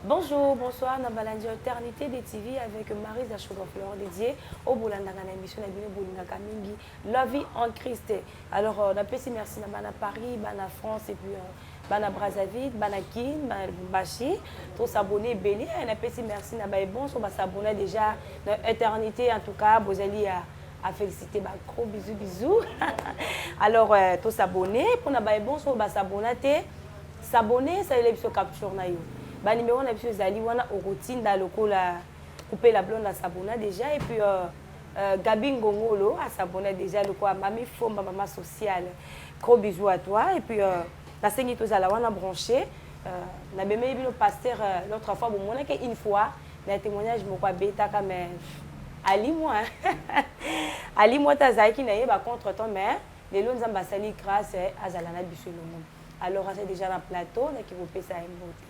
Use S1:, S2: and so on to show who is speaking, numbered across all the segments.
S1: Bonjour, bonsoir, na balandi Alternité des TV avec Marie Zachogo Flore dédiée au Bolandanga na émission na bino Bolingaka mingi la vie en Christ. Alors euh, on appelle merci na bana Paris, bana France et puis euh, bana brazzaville bana kin bana lubumbashi tosabone ebele eh, napesi merci na baye bonso basabona déjà na éternité en tout cas bozali ya à féliciter ba gros bisous bisous alors euh, to s'abonner pour na ba bon so ba s'abonner te s'abonner ça il biso capture na yo ba numéro na biso ezali wana okotinda lokola couper la blonde à s'abonner déjà et puis euh, euh, Gabi Ngongolo à s'abonner déjà lokola mami fomba mama sociale Gros bisous à toi et puis euh, nasengi tozala wana branché euh, nabemeli bino pasteur euh, l'autre fois bomonaki une fois na témoignage moko abetaka mais alimwa alimwa te azalaki na ye bacontre temps mais lelo nzambe asali grâce eh, azala na biso elongo alors aza déjà na plateau naki kopesa ye mbote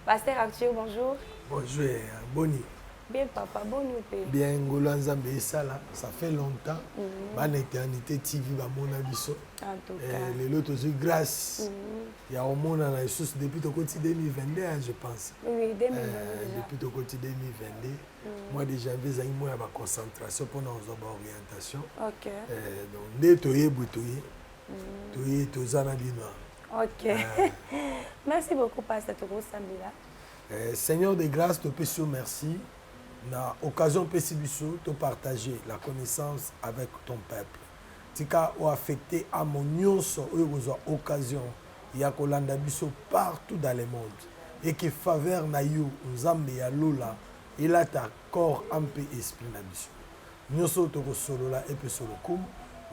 S1: pasteur arthur bonjour bonjour eh,
S2: boni Bien papa,
S1: bonne nuit. Bien ngola nzambe
S2: esala, ça fait longtemps. Mm -hmm. Bana éternité TV ba mona biso. En tout eh, cas. Eh,
S1: lelo tozui
S2: grâce. Mm -hmm. Ya omona na Jesus depuis tokoti 2022 hein, je pense. Oui, 2022.
S1: Eh, depuis tokoti 2022.
S2: Mm -hmm. Moi déjà vais à moi ba concentration pour nous ba orientation. OK. Eh,
S1: donc nde
S2: toye butoye. Mm -hmm. Toye tozana bino. OK. Eh.
S1: Merci beaucoup pasteur Tokosambila. Eh, Seigneur de grâce,
S2: topesi yo merci na occasion opesi biso to partager la connaissance avec ton peuple. Tika o affecter à mon nyonso oyo kozwa occasion ya kolanda biso partout dans le monde et que faveur na yo Nzambe ya lola elata corps ampe esprit na biso. Nyonso tokosolola epeso lokumu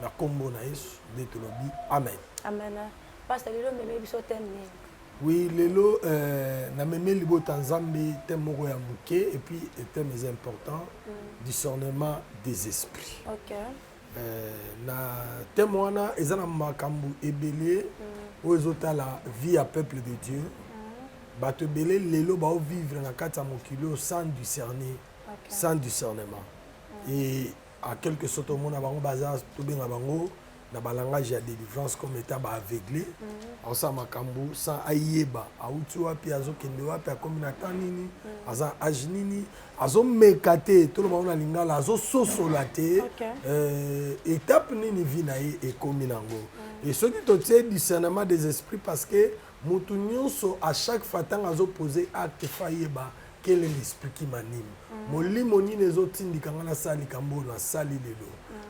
S2: na kombo na Yesu nde tolobi amen. Amen. Pasteur
S1: lelo meme biso thème nini? Oui lelo
S2: euh, na meme libota nzambe thème moko ya moke et puis thème eza important mm. discernement des esprits okay.
S1: euh,
S2: na thème wana eza na makambo ebele mm. oyo ezotala vie ya peuple de dieu mm. bato ebele lelo baovivre na kati ya mokili oyo sans discerner okay. sans discernement mm. et à quelque sorte omona bango baza tobenga bango na ba langage ya delivrance comme etat ba aveugle aosala makambo sans ayeba auti wapi azokende wapi akomi na temps nini aza age nini azomeka te toloba ngo na lingala azososola te Ok. euh, étape nini vie na ye ekomi nango et soki totie discernement des esprits parce que motu nyonso à chaque fois ntango azopose acte fayeba Quel est l'esprit qui m'anime? Mm. Molimo nini ezotindika ngai nasala likambo oyo nasali lelo?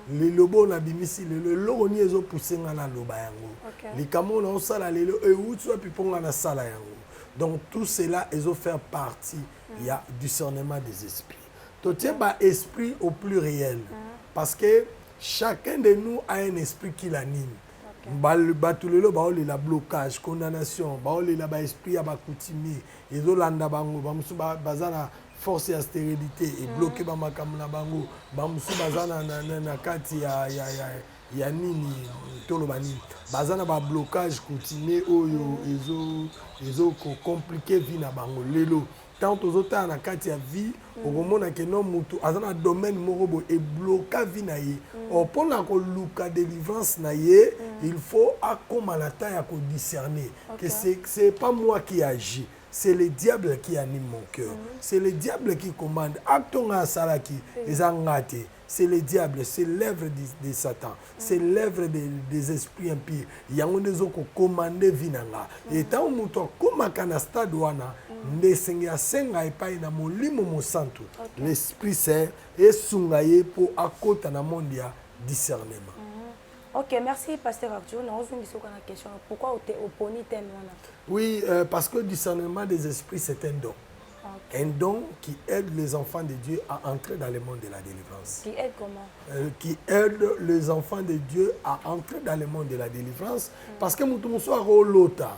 S2: Mm. Liloba oyo nabimisi lelo, eloko nini ezopuse ngai naloba yango? Okay. Likambo oyo naosala lelo euti wapi mpo ngai nasala yango? Donc tout cela ezo faire partie mm. ya discernement des esprits. Totie okay. ba esprit au plus réel mm. parce que chacun de nous a un esprit qui l'anime. bato lelo baolela blocage condamnation baolela baesprit ya bacoutimier ezo landa bango ba musu ba, baza na force ya sterilité et mm. bloquer ba makambo na bango ba musu baza na, na, na, na kati ya, ya, ya ya nini toloba nini baza na bablocage coutumier oyo ezo ezo kocomplike vie na bango lelo ntango tozotala na kati ya vie okomona ke no mutu aza na domaine moko boye ebloka vie na ye mm. or mpo na koluka délivrance na ye mm. il faut akóma na temps ya kodiscerne que c'est pas moi qui agit c'est le diable qui anime mon cœur mm. c'est le diable qui commande acte nga asalaki eza nga te c'est le diable c'est l'œuvre de satan c'est mm. l'œuvre de, des esprits impurs yango nde ezokokomande vi na nga mm. e ntango moto akomaka na stade wana mm. nde esenge asenga epai na molimo mosantu okay. l'esprit saint esunga ye mpo akota na monde ya discernement mm -hmm. ok
S1: merci pasteur arthur naozongisa oka na question pourquoi oponi teme wana oui euh,
S2: parce que discernement des esprits c'est un don Un don qui aide les enfants de Dieu à entrer dans le monde de la délivrance. Qui aide comment
S1: euh, Qui aide
S2: les enfants de Dieu à entrer dans le monde de la délivrance. Mm. Parce que mutu musu ako lota.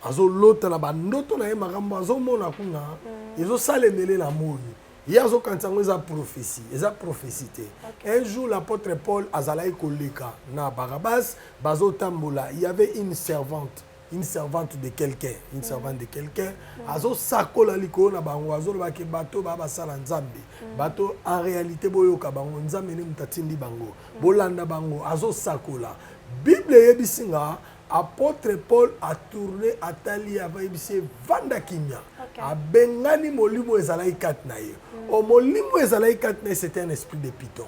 S2: Azo lota na bandoto na ye makambo azo mona kuna. Mm. Ezo salemele na moyi. ye azokanisa yango eza prophétie eza prophétie te okay. un jour l'apôtre paul azalaki koleka na barabas bazotambola il y avait une servante une servante de quelqu'un une servante de quelqu'un azosakola likolo na bango azoloba ke bato baa basala nzambe mm. bato en réalité boyoka bango nzambe nde moto atindi bango mm. bolanda bango azosakola bible eyebisi nga apôtre paul atourne atali ye avayebisi ye vanda kimia okay. abengani molimo ezalaki kati na ye mm. o molimo ezalaki kati na ye c'était un esprit de piton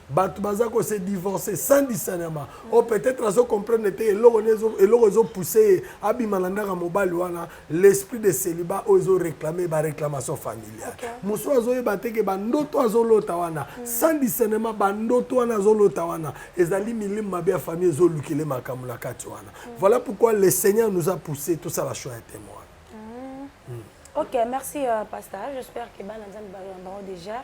S2: bato baza ko se divorce sans discernement o oh, peut-être azo comprendre te eloko eloko ezo pousse ye abima na ndaka mobali wana l'esprit de célibat oyo ezo réclamer ba réclamation familiale mosusu azoyeba te ke bandoto azolota wana mm. sans discernement bandoto wana azolota wana ezali milimu mabe ya famille ezolukele makambo na kati wana mm. voilà pourquoi le seigneur nous a poussé tosala choix ya témoin mm.
S1: ok merci euh, pasteur j'espère que bana nzambe bayango déjà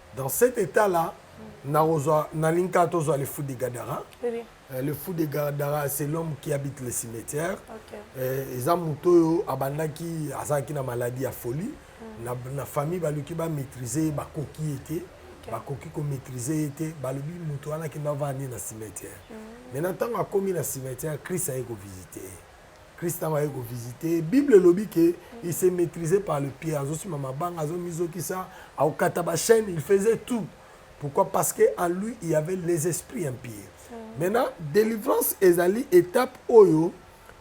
S2: Dans cet etat là, nakozwa nalingi kaka tozwa le fou de Gadara. Oui. Euh, le fou de Gadara c'est l'homme qui habite le cimetière. Okay. Euh, eza moto oyo abandaki azalaki na maladie ya folie. Mm. Na, na famille baluki ba maîtriser bakoki ye te. Okay. Bakoki ko maîtriser ye te. Balobi moto wana akenda avandi na cimetière. Mm. Maintenant ntango akomi na cimetière, Christ aye ko visiter ye. Christ ntango aye kovisite ye bible elobi ke mm. il se maîtrise par le pied azosima mabanga azomizokisa akokata bachaîne il faisait tout pourquoi parce que en lui il y avait les esprits impurs mm. maintenant délivrance ezali étape oyo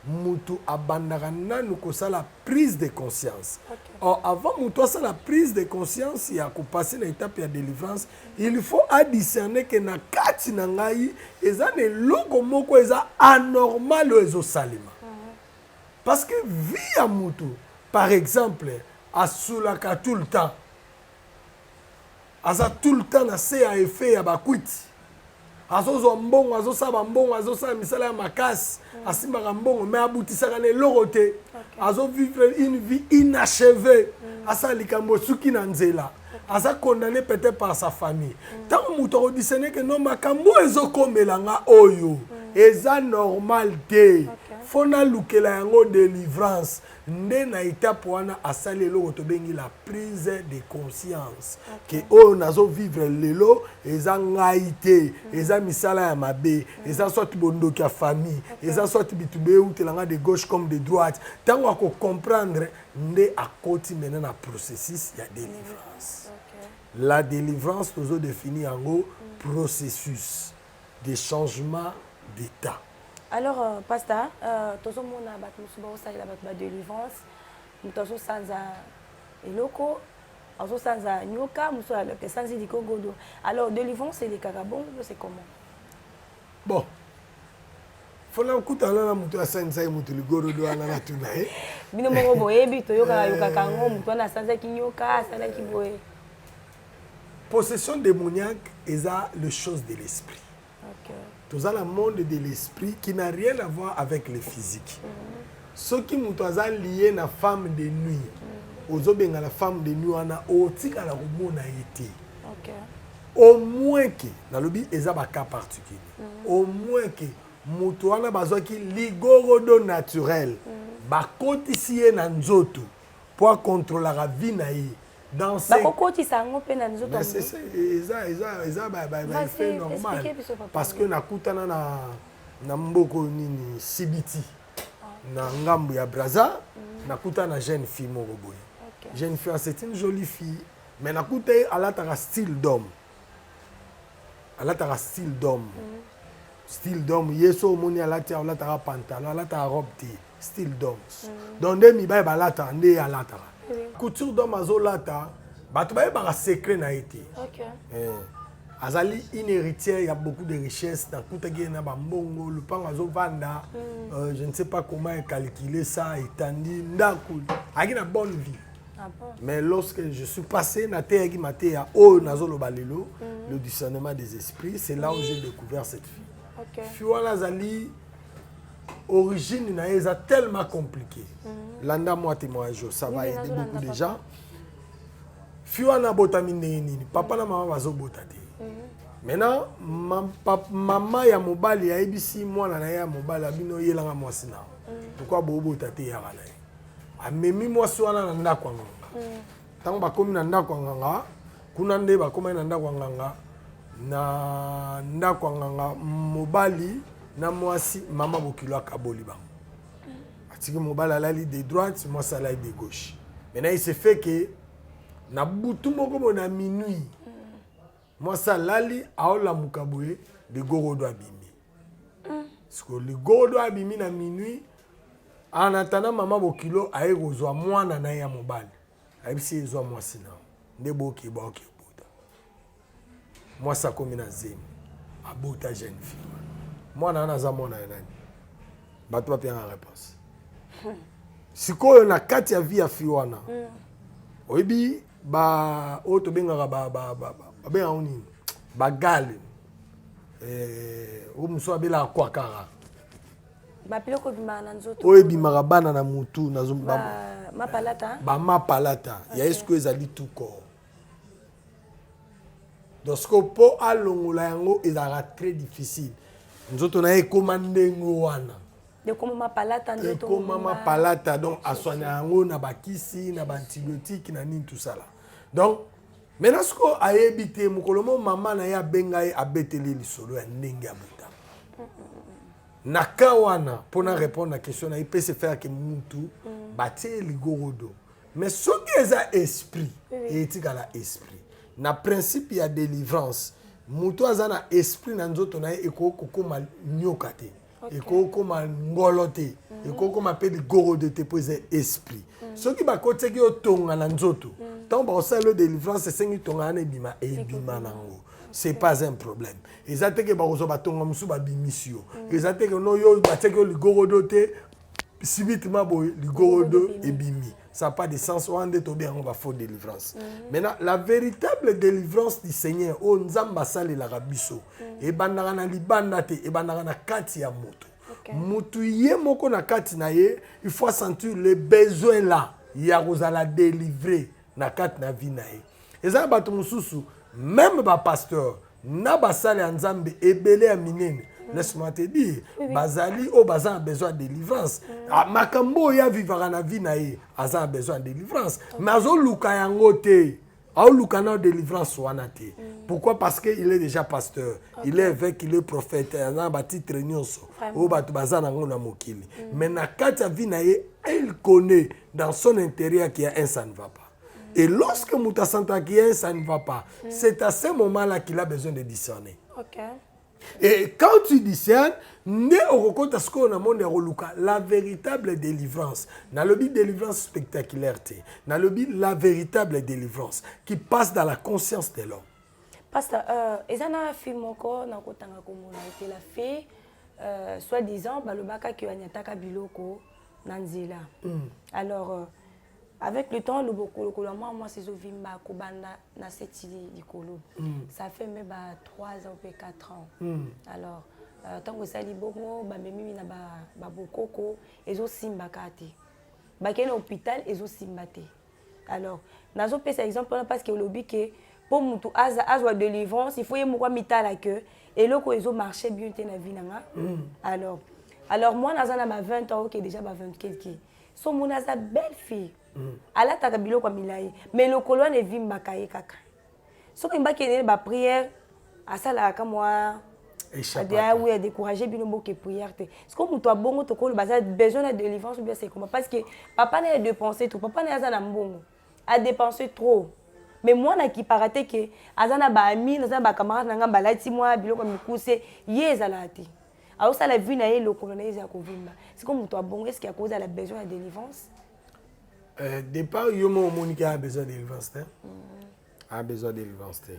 S2: mutu abandaka nanu kosala prise de conscience okay. or avant mutu asala prise de conscience ya kopase na étape ya délivrance Il faut a discerner que na kati na ngai eza na eloko moko eza anormal oyo ezosalema parce que vie ya motu par exemple asulaka tout le temps aza tout le temps na se ya effet ya bakwiti azozwa mbongo azosala bambongo azosala misala ya makasi mm. asimbaka mbongo mais abutisaka na eloko te azovivre une vie inachevée mm. asala likambo esuki na nzela aza condamné peut-être par sa famille mm. ntango moto akodisene ke no makambo oyo ezokomela nga oyo eza normal te fo nalukela yango delivrance nde na etape wana asali eloko tobengi la prise de conscience ke oyo nazo vivre lelo eza ngai te eza misala ya mabe eza soit bondoki ya famille eza soit bitu beutela ngai de gauche comme de droite ntango ako comprendre nde akoti mena na processus ya délivrance la délivrance tozo définir yango processus de changement d'etat. Alors
S1: pasta tozo mona batu mususu bazo salela batu ba delivrance mutu azo sanza eloko azo sanza nyoka mususu aloka esanzi likogodo alors delivrance elekaka bongo to c'est comment
S2: bon fona okutana na moto asangisaki moto ligorodo wana natuna ye bino moko boyebi
S1: toyokaka yokaka yango moto wana asanzaki nyoka asalaki boye
S2: Possession demoniaque eza le chose de l'esprit. Okay. Toza na monde de l'esprit qui n'a rien à voir avec le physique. Mm -hmm. Soki moto aza lié na femme de nuit. Mm -hmm. ozobenga la femme de nuit wana otikala komona ye te au moins ke nalobi eza bacas particulier mhm. au moins ke moto wana bazwaki ligorodo naturel mhm. bakotisi ye na nzoto po a controlaka vie na ye bakokotisa yango mpe na nzoto eza baeffet normal parce que nakutana na na mboko nini sibiti ah. na ngambo ya braza mm. nakutana na jeune fille moko boye jeune fille ah, c'est une jolie fille mais nakuta ye alataka style d'homme alataka style d'homme mm. style d'homme ye so omoni alati alataka pantalon alataka robe te style doms mm. donc nde mibali balataka nde ye alataka mm. couture dom azolata bato bayebaka secret na ye te okay. eh. azali une héritière ya beaucoup de richesse nakutaki ye na bambongo lupango azovanda mm. euh, je ne sais pas comment ecalcule ça etandi ndako ayaki na bonne vie Ah bon?
S1: Mais lorsque
S2: je suis passé na teyaki mateya oyo nazoloba lelo mm. le discernement des esprits c'est là où j'ai découvert cette fille okay. fille wana
S1: azali
S2: origine na ye eza tellement compliqué mhm. landa mwa témoignage yo ça va aider beaucoup de gens fi wana abotami ndenge nini papa na mama bazobota te mhm. maintenant ma, pa, mama ya mobali ayebisi mwana na ye ya mobali abino yelanga mwasi na mhm. pourkui bobota te yaka na ye amemi mwasi wana na ndako yango Ntango bakomi na ndako ya nganga, kuna nde bakomaki na ndako ya nganga, na ndako ya nganga mobali na mwasi, mama bokilo akaboli bango, atiki mobali alali de droite, mwasi alali de gauche. Maintenant il se fait que na butu moko boye na minuit mwasi alali aolamuka boye ligorodo abimi mm. siko ligorodo abimi na minuit anatana mama bokilo aye kozwa mwana na ye ya mobali ayebisi ye ezwa mwasi na nde boke baoke obota mwasi akomi na zemi abota jeune fille mwana wana aza mwana ya nani bato bapiyanga réponse sikoyo na kati ya vie ya fille wana mm. oyebi ba oyo tobengaka ba ba ba babengaka yango nini bagale eh, oyo mosusu abelaka kwakara
S1: babiloko ebimaka na nzoto oyo ebimaka bana na
S2: mutu na zo- ba- ba- mapalata
S1: bamapalata
S2: ya eske ezali tuko donc sikoyo mpo alongola yango ezalaka très difficile nzoto na ye ekóma ndenge wana ekomama
S1: palata nde ekomama palata
S2: donc aswana yango na bakisi na baantibiotique na nini tosala donc maintenant sikoyo ayebi te mokolo mo mama na ye abenga ye abeteli lisolo ya ndenge ya botama na ka wana mpo na répondre na question na ye mpe se faire ke mutu mm. batie ligorodo mais soki eza esprit etikala esprit na principe ya délivrance moto aza na esprit na nzoto na ye ekoki kokoma nyoka te okay. ekokoma ngolo te mm -hmm. ekokoma mpe ligorodo te mpo eza esprit mm -hmm. soki bakotaki yo tonga na nzoto mm -hmm. ntango bakosala yo delivrance esengi tonga wana ebima ebima nango c'est pas un problème eza te ke bakozwa batonga mosusu babimisi yo mm. eza te ke no yo batiaki yo ligorodo te subitement boye ligorodo ebimi ça pas de sens wana nde tobe yango bafaux délivrance mm -hmm. maintenant la véritable délivrance du seigneur oyo nzambe asalelaka biso mm -hmm. ebandaka na libanda te ebandaka na kati ya moto okay. moto ye moko na kati na ye il faut sentir le besoin là ya kozala délivre na kati na vie na ye eza na bato mosusu meme bapasteur na basali ya nzambe ebele ya minene laisse-moi te dire bazali oyo baza na besoin ya délivrance mm. ah, makambo oyo avivaka na vie na ye aza na besoin ya délivrance mais azoluka yango te aoluka nao délivrance wana te mm. pourquoi parce que il est déjà pasteur il est évêque il est prophète aza na batitre nyonso oyo bato baza na yango na mokili mm. mais na kati ya vie na ye il connaît dans son intérieur qu'il y a un ça ne va pas Et lorsque Mouta Santakien, ça ne va pas. Mm. C'est à ce moment-là qu'il a besoin de discerner. Okay.
S1: Et
S2: quand tu discernes, nde okokota sikoyo na monde ya koluka la véritable délivrance nalobi délivrance spectaculaire te nalobi la véritable délivrance qui passe dans la conscience de l'homme pasta euh,
S1: eza na film moko nakotanga komona ete la fille euh, soit disant balobaka ke anyataka biloko na nzela mm. alors euh, avec le temps loboko lokolo ya mwana mwasi ezovimba kobanda na seti likolo mm. ça fait mpe ba 3 ans mpe 4 ans mm. alors euh, ntango esali bongo bamemimi na babokoko ezosimba kaka te bakei na hôpital ezosimba te alors nazopesa exemple wana parce que olobi ke mpo motu azwa délivrance il faut ye moko amitala ke eloko ezomarche bien te na vie na nga mm. alors alors mwana aza na ba 20 ans oke déjà ba 20 quelque somona aza belle fille mm. alataka biloko ya milai mai lokolo wana evimbaka ye kaka soki mbaki enene bapriere asalaka ka mwa oui adécourage bino boke prière te siko moto ya bongo tokoloba aza besoin na délivrance ou bien sekoma parce que papa na ye dépense trop papa na ye aza na mbongo adépense trop mais mwana akipaka te ke aza na baami aza na bacamarade na ngai balati mwa biloko mikuse ye ezalaka te azosala vie na ye lokolo na ye ezala kovimba siko moto abongo eske akozala besoin ya délivrance
S2: euh,
S1: départ
S2: yo moko omoni ke a besoin délivrance
S1: te
S2: mm. a besoin délivrance te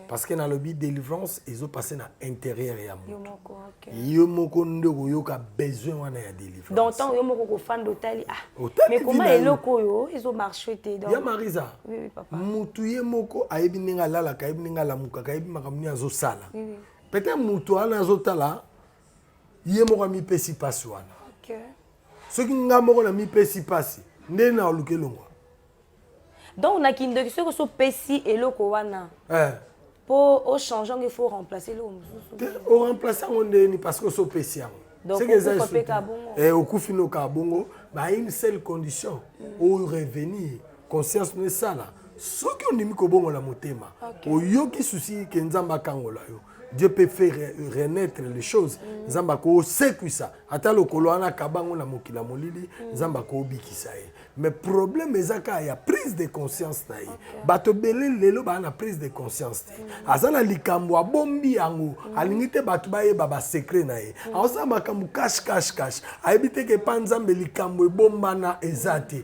S2: parce que
S1: nalobi
S2: délivrance ezopasse na intérieur ya moto
S1: yo moko nde
S2: okoyoka besoin wana ya délivrance donc ntango yo moko kofanda
S1: otali ah mais koma eloko oyo ezomarche te ya marisa
S2: motu
S1: ye moko
S2: ayebi ndenge alalaka ayebi ndenge alamukaka ayebi makambo nini azosala Peut-être mutu wana azotala ye moko amipesi pasi wana. Okay.
S1: Soki nga
S2: moko namipesi pasi nde na oluke longwa.
S1: Donc na kindoki soki oso pesi eloko wana. Eh. Po o change il faut remplacer eloko mosusu. O remplacer
S2: yango nde ni parce que oso pesi yango. Donc okufa pe
S1: kabongo. Eh okufi no
S2: kabongo, ba une seule condition. Mm. O revenir. conscience no esala soki ondimi kobongola motema okay. oyoki susi ke nzambe akangola yo dieu peut faire renaître les choses mm. nzambe akosekwisa ata lokolo wana akabango na mokili ya molili mm. nzambe akobikisa ye mais problème eza kaka ya prise de conscience na ye okay. bato ebele lelo baa na prise de conscience te mm. aza na likambo abombi yango mm. alingi te bato bayeba basecret na ye mm. aosala makambo cash cash cash ayebi te ke epa nzambe likambo ebombana eza te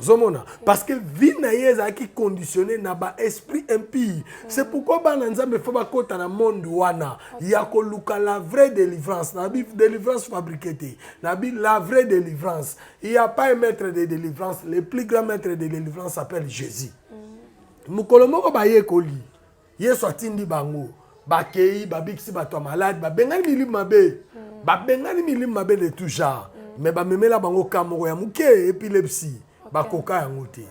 S2: ozomona parce que vie na ye ezalaki conditionne na ba esprit impire c'est pourquoi bana nzambe fo bakota na monde wana ya koluka la vraie délivrance na bi délivrance fabriqué te na bi la vraie délivrance il y a pas un maître de délivrance le plus grand maître de délivrance s'appelle jésus mm. mokolo moko bayekoli yesu atindi bango bakei babikisi bato ya malade babengani milimu mabe mm. babengani milimu mabe de tout genre mm. mais bamemela bango ka moko ya moke epilepsi okay. bakoka yango te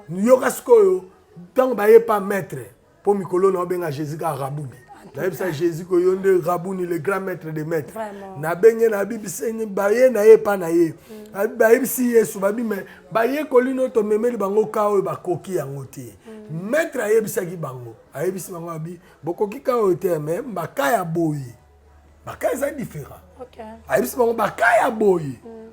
S2: yoka
S1: sikoyo
S2: ntango baye pa maître mpo mikolo na obenga jésus ka rabuni nayebisa jésus ko yo nde rabuni le grand maître de maître nabenge nabibiseni baye na ye epa na ye mm. bayebisi yesu babi me bayekoli no tomemeli bango ka oyo bakoki yango te mm. maître ayebisaki bango ayebisi bango abi bokoki ka oyo te me baka ya boye baka eza différent okay. ayebisi
S1: bango baka
S2: ya boye mm.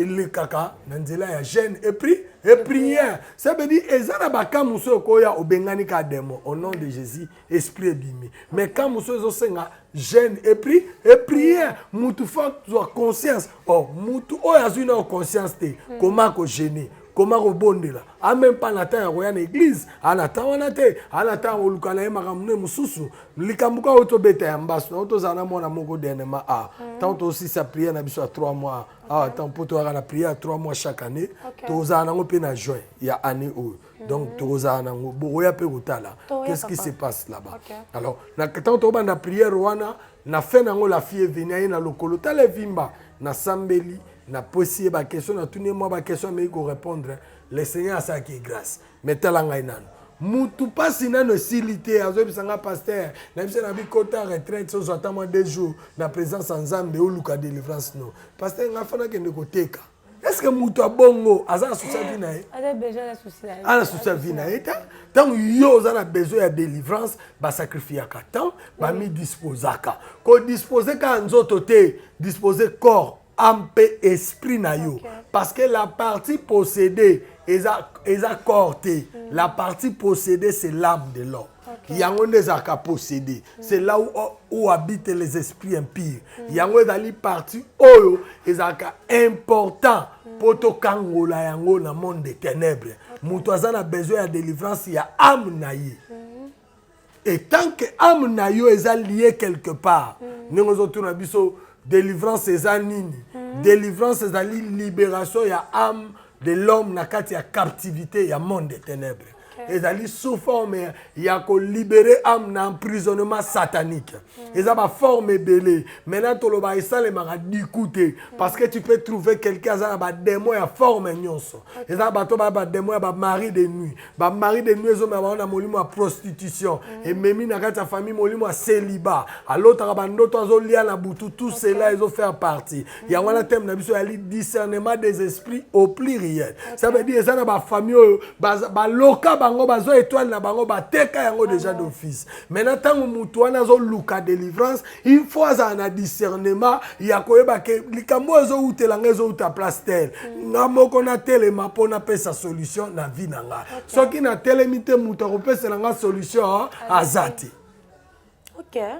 S2: elekaka na nzela ya gene epri eprière ça veut dire eza na baka mosusu okoya obengani ka demo au nom de jésus esprit ebimi mais ka mosusu ezosenga jeune epri epriere mutu fo azwa conscience o oh, mutu oyo azwi nayo conscience te hmm. koma kogene koma kobondela a même pas na ntango ya koya na eglize ana ntango wana te ana ntango ya koluka na ye makambo ne mosusu likambo kaka oyo tobeta ya mbasu nango tozala na mwana moko dernièrement a ntango hmm. tosisa priere na biso ya 3 mois awa ntango mpo toyaka na priere ya 3 mois chaque année tozala nango mpe na juin ya année oyo donc tokozala nango bokoya mpe kotala qu'est-ce qui se passe là-bas okay. alors na ntango tokobanda prière wana na fin nango la fille eveni aye na lokolo tala evimba nasambeli napwesi ye bakestion natuni ye mwa bakestion ameki korépondre le seigneur asalaki ye grâce mais tala ngai nano mutu mpasi nano esili te azoyebisa ngai paster nayebisa na bikota retraite ozwa ata mwa deux jours na présence ya nzambe oluka délivrance no paster ngai afana kende koteka est-ce que moto ya bongo aza na souci ya vie na ye
S1: aza na souci ya vie na ye te
S2: ntango yo oza na besoin ya délivrance basacrifiaka temps bamidisposaka kodispose kaka nzoto te dispose corps ame mpe esprit na yo parce que la partie possédée eza, eza corps te mm. la partie possédée c'est l'âme de l'homme Okay. yango nde ezalaka possédé mm. c'est là où, où habite les esprits impires mm. yango ezali parti oyo ezalaka important mpo mm. tokangola yango na monde de ténèbres okay. moto aza na besoin ya délivrance ya ame na ye mm. et tant que ame na yo eza lie quelque part mm. ndenge ozotuna biso délivrance eza nini mm. délivrance ezali libération ya ame de l'homme na kati ya captivité ya monde de ténèbres ezali sous forme ya kolibere ame na emprisonnement satanique mm. eza baforme ebele maintenant toloba esalemaka diku te mm. parce que tu peux trouver quelqu'un aza na bademo ya forme nyonso eza na bato baya bademo ya bamari de nuit bamari de nuit ezomema bango na molimo ya prostitution mm. ememi na kati ya famille molimo ya celiba alotaka bandoto azolia na butu tout cela ezofaire partie yango wana teme na biso yali discernement des esprits au pluriel ça veut dire eza na bafamille oyo baloka bango bazwa étoile na bango bateka yango déjà d'office maintenant ntango motu wana azoluka délivrance il faut azala na discernement ya koyeba ke likambo oyo ezowutela nga ezowuta place tel mm. nga moko natelema mpo napesa solution na vie na nga soki natelemi te moto akopesela nga solution aza te
S1: okay.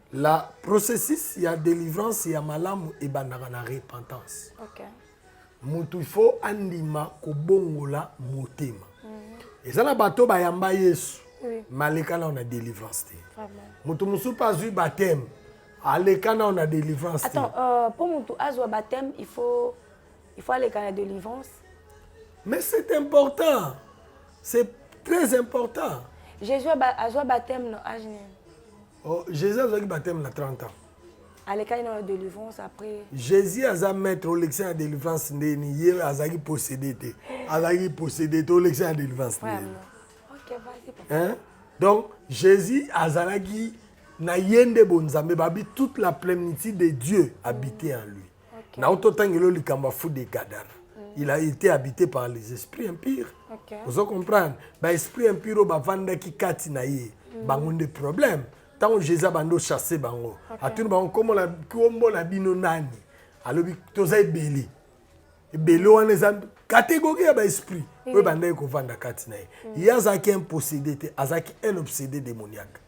S2: La processus ya delivrance ya malamu ebandaka na repentance. Okay.
S1: Mutu il
S2: faut andima kobongola motema. Mm -hmm. Eza na bato bayamba Yesu. Oui. Maleka nao na delivrance te. Mutu mosusu mpe azwi baptême. Aleka nao na delivrance te. Attends, euh, mpo mutu
S1: azwa baptême il faut il faut aleka na delivrance. Mais
S2: c'est important. C'est très important. Jésus
S1: azwa baptême na age nini? Oh,
S2: Jésus azwaki baptême na 30 ans. alekaki na
S1: délivrance après jésus aza
S2: maître olekisa na délivrance ndeni ye azalaki possédé te azalaki possédé te olekisa na délivrance ndeni
S1: okay, hein? donc
S2: jésus azalaki na ye nde bonzambe babi toute la plénitude de dieu habité en lui Okay. Nao to tangelo likambo ya fou de gadana. Mm. Il a été habité par les esprits impurs. Okay. Ozo comprendre? Ba esprits impurs bavandaki kati na ye. Mm. Bango nde problème. Tango Jésus abandi ochasse bango. Okay. Atuni bango kombo na kombo na bino nani? Alobi toza ebele. Ebele wana eza catégorie ya baesprit oyo mhm. bandaki kovanda kati na ye mhm. ye azalaki impossédé te azalaki un obsédé démoniaque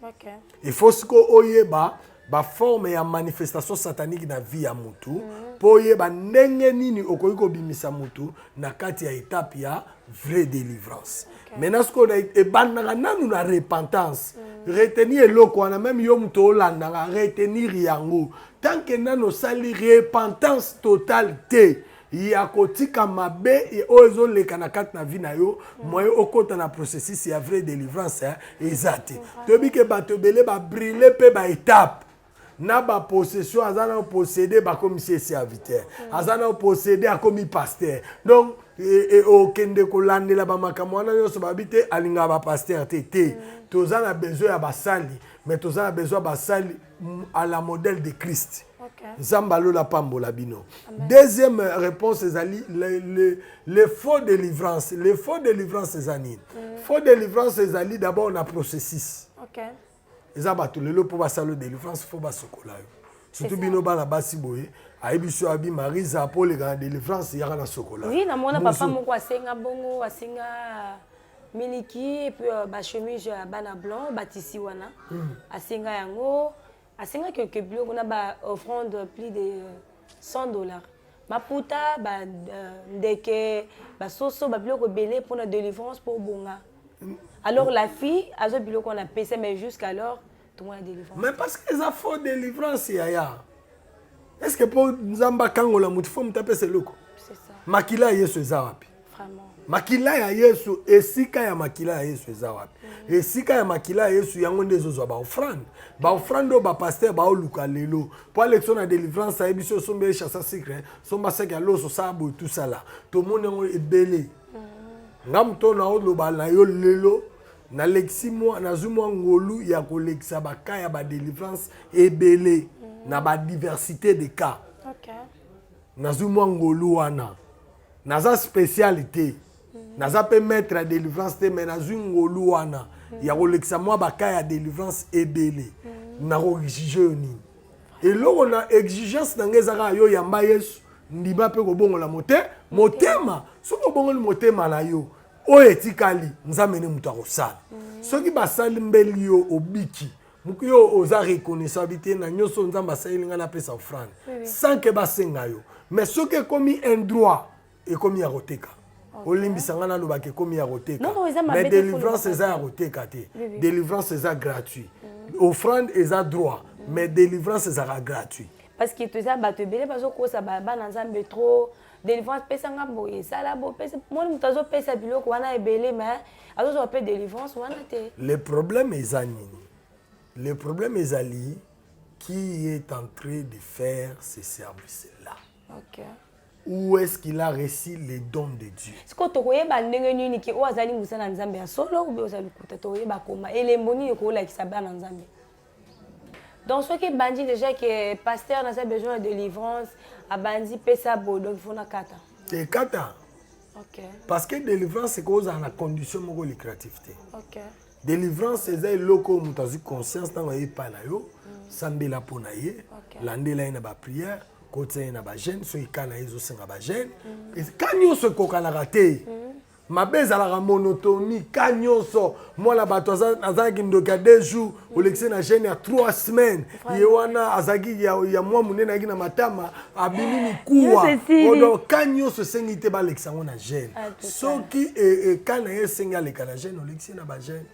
S2: efo sikoyo oyeba baforme ya manifestation satanique na vie ya motu mhm. mpo oyeba ndenge nini okoki kobimisa motu na kati ya etape ya vraie délivrance okay. maintenant sikoyo ebandaka nanu na repentance mm. retenir eloko wana meme yo moto olandaka retenir yango tant que nanu osali repentance totale te mm. ya kotika mabe oyo ezoleka na kati na vie na yo mm. moye okota na processus ya vraie délivrance hein, eza te mm. toyebi ke bato ebele babrille mpe baetape na bapossession aza na posséde bakomi si serviteur mm. aza na posséde akomi pasteur donc e, e, okende kolandela bamakambo wana nyonso babi te alingaka bapasteur te te toza na besoin ya basali mais toza na besoin ya basali à la modèle de Christ. Nzambe alola pambola bino. Deuxième réponse ezali le, le, le faux délivrance. Le faux délivrance eza nini? Mm. Faux délivrance ezali d'abord na processus. Okay. Eza bato lelo mpo basala délivrance fo basokola yo. Surtout bino bana basi boye ayebi so abi Marisa mpo oleka na délivrance yaka na sokola. Oui, namona papa moko
S1: asenga bongo asenga miliki epuis euh, bachemise ya bana blanc batisi wana hmm. asenga yango asengaki oke biloko na baoffrande plus de 100 euh, dollars maputa bandeke euh, basoso babiloko ebele mpona délivrance mpo obonga alors la fille azo biloko wana apesa mais jusqu'alors mais parce que eza faux
S2: délivrance yaya est ce que mpo nzambe akangola motu fo motu apesa eloko makila ya yesu eza wapi makila ya yesu esika ya makila ya yesu eza wapi mm. esika ya makila ya yesu yango nde ezozwa baofrande baofrande oyo bapaster baoluka lelo mpo alekso na délivrance ayebi si osomba ye chasa sucre somba saki ya loso saa boye tusala tomoni yango ebele mm. nga moto naoloba na yo lelo nalekisi mwa nazwi mwa ngolu ya kolekisa baka ya badelivrance ebele mm. na badiversité de cas okay. nazwi mwa ngolu wana naza spécial te mm. naza mpe maître ya délivrance te mais nazwi ngolu wana mm. ya kolekisa mwa baka ya délivrance ebele mm. nakoexige yo nini eloko na exigence na ngai eza kaka yo yamba yesu ndima mpe kobongola mote motema soki obongoli motema na yo oyo etikali nzambe nde moto akosala mm. soki basali mbeli yo obiki moki yo oza reconnaissant bi te na nyonso nzambe asaleli ngai napesa ofrande sans ke basenga yo mais soki ekomi un droit ekomi ya koteka olimbisa ngai nalobaka ekomi ya koteka mais délivrance eza ya koteka te délivrance eza gratuit mm. offrande eza droit mais délivrance ezalaka gratuit parce que toza
S1: bato ebele bazokosa bana nzambe trop délivrance pesa nga boye sala bo pesa moni moto azopesa biloko wana ebele mais azozwa mpe délivrance wana te
S2: le
S1: problème
S2: eza nini le problème ezali qui est en train de faire ce service là okay.
S1: où est-ce
S2: qu'il a reçu les dons de Dieu sikoyo tokoyeba
S1: ndenge nini ke oyo azali mosala na nzambe ya solo obe oza lokuta tokoyeba koma elembo nini okolakisa bana nzambe donc soki ebandi déjà ke pasteur naza besoin ya délivrance abandi pesa boye donc ifo nakata ekata
S2: okay.
S1: parce que délivrance
S2: ekoki ozala na condition moko lucrative te okay.
S1: délivrance
S2: eza eloko oyo moto azwi conscience ntango aye epai na yo mm. sambela mpo na ye okay. landela ye na baprière kotisa ye na bagene soki ka na ye ezosenga bagene mm. ka nyonso ekokanaka te mm. mabe ezalaka monotoni ka nyonso mwana bato azalaki ndoki ya deux jours olekisi na gene ya trois semaine ye wana azalaki ya, ya mwa monene ayaki na matama abimi mikuwa odo ka nyonso esengi te balekisa yango na gene ah, soki e, e, ka na ye esengi aleka na gene olekisi na bagene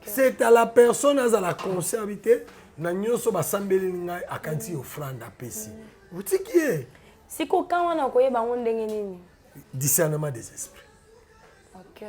S2: c'est à la personne azala conscient abi te na nyonso basambeli ngai akanisi ofrande apesi mm. otiki ye sikoka wana
S1: okoyeba yango ndenge nini discernement des
S2: esprits okay.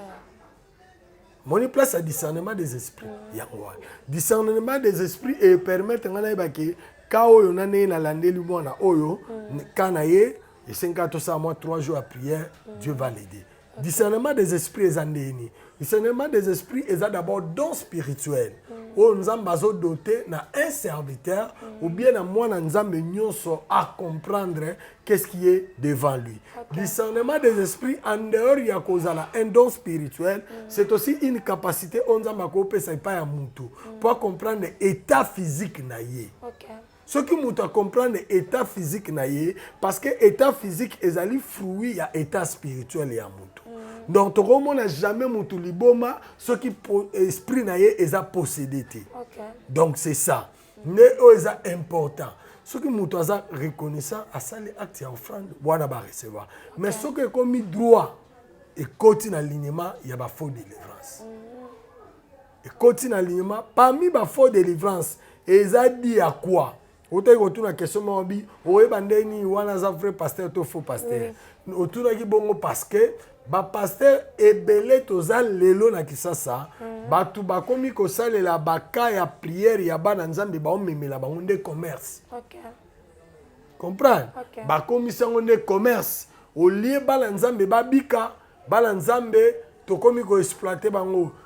S2: moni place ya discernement des esprits mm. yango wana discernement des esprits epermettre ngai nayeba ke ka oyo na ndenge nalandeli mwana oyo mm. ka na ye esengaka tosala mwa trois jours ya prière mm. dieu va l'aider okay. discernement des esprits eza ndenge nini discernement des esprits eza d'abord don spirituel mm. oyo nzambe azodote na un serviteur mm. ou bien na mwana nzambe nyonso acomprendre qu'est-ce qui est devant lui. Okay. Discernement des esprits en dehors ya kozala un don spirituel, mm. c'est aussi une capacité on nzambe akopesa epai ya mutu mm. pour comprendre état physique na ye. Okay. soki moto acomprendre état physique na ye parce que état physique ezali fruit ya état spirituel ya moto mm. donc tokomona jamais moto liboma soki esprit na ye eza possédé te okay. donc c'est ça nde oyo eza important soki moto aza reconnaissant asali acte ya offrande wana barecevoir okay. mais soki ekomi droit ekoti na lignema ya bafaux délivrance mm -hmm. ekoti na lignema parmi bafaux délivrance eza di ya quoi otaki kotuna question moko bi oyeba nde nini wana aza vrai pasteur to faux pasteur oui. otunaki bongo parce que bapastere ebele toza lelo na kisasa mm. bato bakomi kosalela baka ya priere ya bana nzambe baomemela bango nde commerce okay. comprendre okay. bakomisi yango nde commerce olie bana nzambe babika bana nzambe tokomi koexploite bango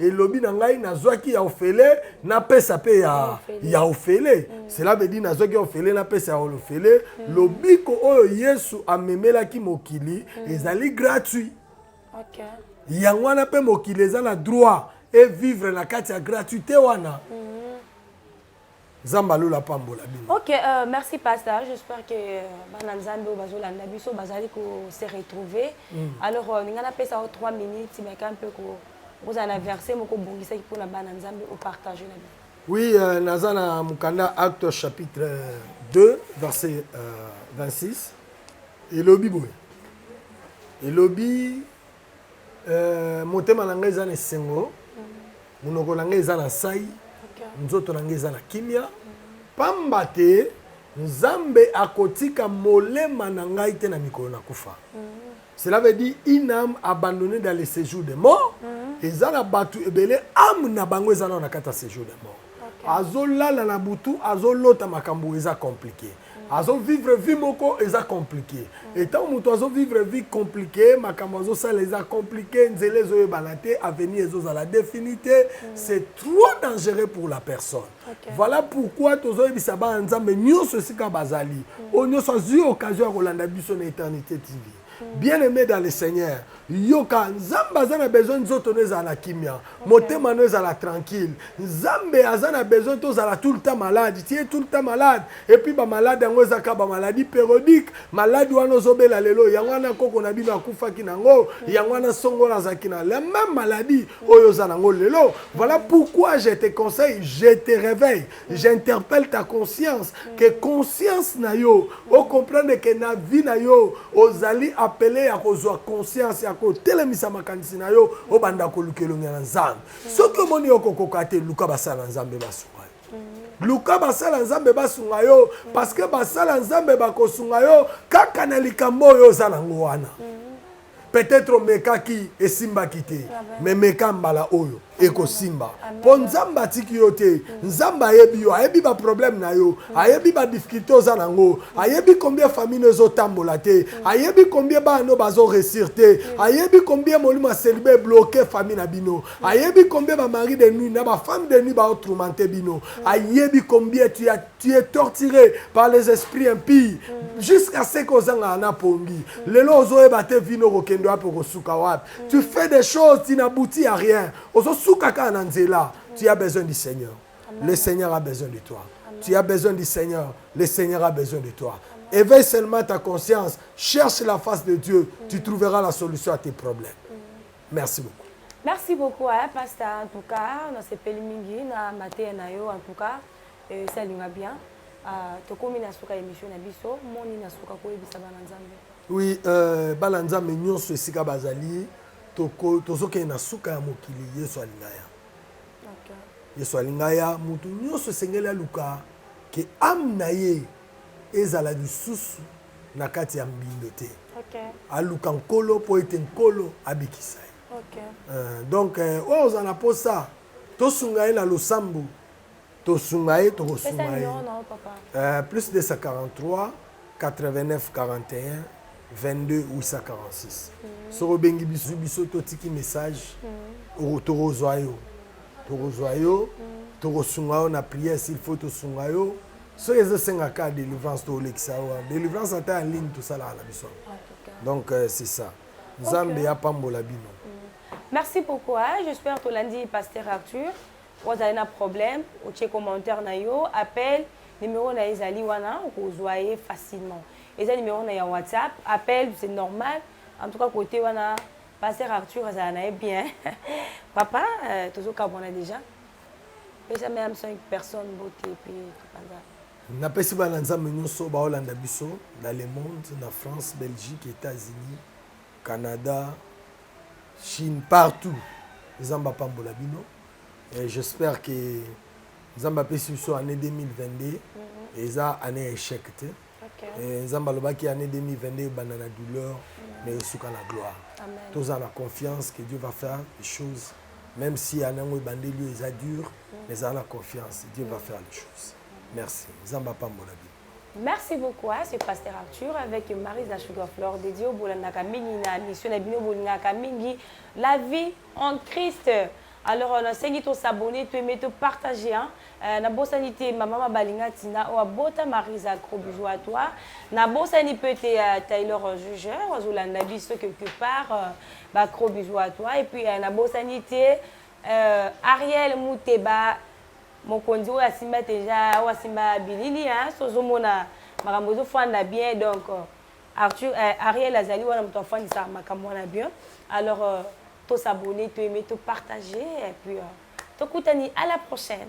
S2: elobi na ngai nazwaki ya ofele napesa mpe ya, ya ofele mm. cela veut dire nazwaki ya ofele napesa ya ofele mm. lobiko oyo yesu amemelaki mokili mm. ezali gratuit okay.
S1: yango wana
S2: mpe mokili eza na droit evivre na kati ya gratuité wana mm. nzambe alola apambola bino ok euh, merci
S1: pasteur j'espère que euh, bana nzambe oyo bazolanda biso bazali kose retrouver mm. alors euh, ninga napesa o 3 minutes meka mpe kozala na verset moko obongisaki mpo na bana nzambe opartage na bino oui euh, naza
S2: na mokanda acte chapitre 2 euh, verset euh, 26 elobi boye elobi Euh, motema na ngai eza na esengo monoko na ngai eza na nsai nzoto na ngai eza na kimia pamba te nzambe akotika molema na ngai te na mikolo na kufa cela veut dire une âme abandonnée dans le séjour des morts mm-hmm. eza na bato ebele ame na bango eza nao na kati ya séjour des morts azolala na butu azolota makambo eza compliqué azo vivre vie moko eza compliqué mm. etant moto azo vivre vie compliqué makambo azosala eza compliqué nzela ezoyebana te avenir ezozala défini te mm. c'est trop dangereux pour la personne okay. voilà pourquoi tozoyebisa bana nzambe nyonso esika bazali mm. oyo nyonso azwi occasion ya kolanda biso na éternité tv bien aimé dans le seigneur yoka nzambe aza na besoin nzoto no ezala na kimia motema no ezala tranquille nzambe aza na besoin tozala tout le temps malade tie tout le temps malade epuis bamalade yango ezaka bamaladi périodique maladi wana ozobela lelo yango wana koko na bino akufaki na yango yango wana songola azalaki na la même maladie oyo oza na yango lelo voilà pourquoi je te conseille je te réveille j'interpelle ta conscience que conscience na yo ocomprendre ke na vie na yo ozali apele ya kozwa conscience ya kotelemisa makanisi na yo obanda koluka elongi na nzambe soki omoni yo kokoka te luka basala nzambe basunga yo luka basala nzambe basunga yo parce que basala nzambe bakosunga yo kaka na likambo oyo oza nango wana mm. Peut-etre omekaki esimbaki te mais meka mbala oyo ekosimba mpo nzambe atiki yo te nzambe ayebi yo ayebi baproblème na yo ayebi badifficulté oza na yango ayebi combien famille no ezotambola te ayebi combien bana no bazoresir te ayebi combien molimo ya selibe ebloke famille na bino ayebi combien bamari de nuit na bafemme de nuit baotroumante bino ayebi combien tu as tu es torturé par les esprits impies mm. jusqu'à ce que ozangaka na pongi mm. lelo ozoyeba te vino okokende wapi okosuka wapi mm. tu fais des choses tu n'aboutis à rien ozosuka kaka na nzela mm. tu as besoin du seigneur Amen. le seigneur a besoin de toi Amen. tu as besoin du seigneur le seigneur a besoin de toi Amen. éveille seulement ta conscience cherche la face de dieu mm. tu trouveras la solution à tes problèmes mm. merci beaucoup merci beaucoup hein,
S1: pasteur en tout cas nasepeli mingi na mateya na yo en tout cas Esi alinga bien. Ah, tokomi na suka emission na biso. Moni na suka koyebisa bana Nzambe. Oui, euh,
S2: bana Nzambe nyonso esika bazali tozokende na suka ya mokili Yesu alinga ya. Okay.
S1: Yesu alinga
S2: ya mutu nyonso esengeli aluka ke ame na ye ezala lisusu na kati ya mbindo te. Okay. Aluka
S1: nkolo
S2: mpo ete nkolo abikisa ye. Okay. Euh, donc
S1: euh, oyo oh,
S2: ozala mposa tosunga ye na losambo tosunga ye tokosunga ye uh, plus 243 89 41 22 846 mm. soki obengi biso biso totiki message mm. tokozwa yo tokozwa yo mm. tokosunga yo na prière s'il faut tosunga yo soki ezosenga ka délivrance tolekisa yo wana délivrance ata ya ligne tosalaka na biso donc euh, c'est ça nzambe okay. apambola bino mm. merci
S1: beaucoup hein? j'espère tolandi pasteur arthur Ozali na problème, otie commentaire na yo, appel, numero na ye ezali wana, okozwa ye facilement. Eza numero na ya WhatsApp, appel, c'est normal. En tout cas, côté wana, Pasteur Arthur azala na ye bien. Papa, euh, tozo kabwana déjà. Pesa même 5 personnes beauté puis topanza.
S2: napesi bana nzambe nyonso baolanda biso na le monde na france belgique états-unis Canada, chine partout nzambe apambola bino et j'espère que nzambe apesi biso année 2022 mhm. eza année échec te Eh, nzambe alobaki année 2022 ebanda na douleur mais esuka na gloire toza na confiance que dieu va faire les choses même si année yango ebandeli yo eza dur mais eza na confiance dieu va faire les choses merci nzambe apambola bino Merci beaucoup à ce
S1: pasteur Arthur avec Marie la Sugar Flore de Dieu bolandaka mingi na mission na bino bolingaka mingi la vie en Christ alors euh, nasengi to s'abonner to aimer to partager hein euh, na bosani te maman mabalinga tina oa bota Marisa gros bisous à toi na bosani peut te euh, Taylor euh, Juger ozolanda biso quelque part euh, ba gros bisous à toi et puis euh, na bosani te euh, Ariel Mouteba Mokonzi oyo asimba dejà oyo asimba bilili hein so ozomona makambo ezofanda bien donc Arthur eh, Ariel azali wana moto afandisa makambo wana bien alors euh, to s'abonner to aimer to partager et puis euh, tokutani à la prochaine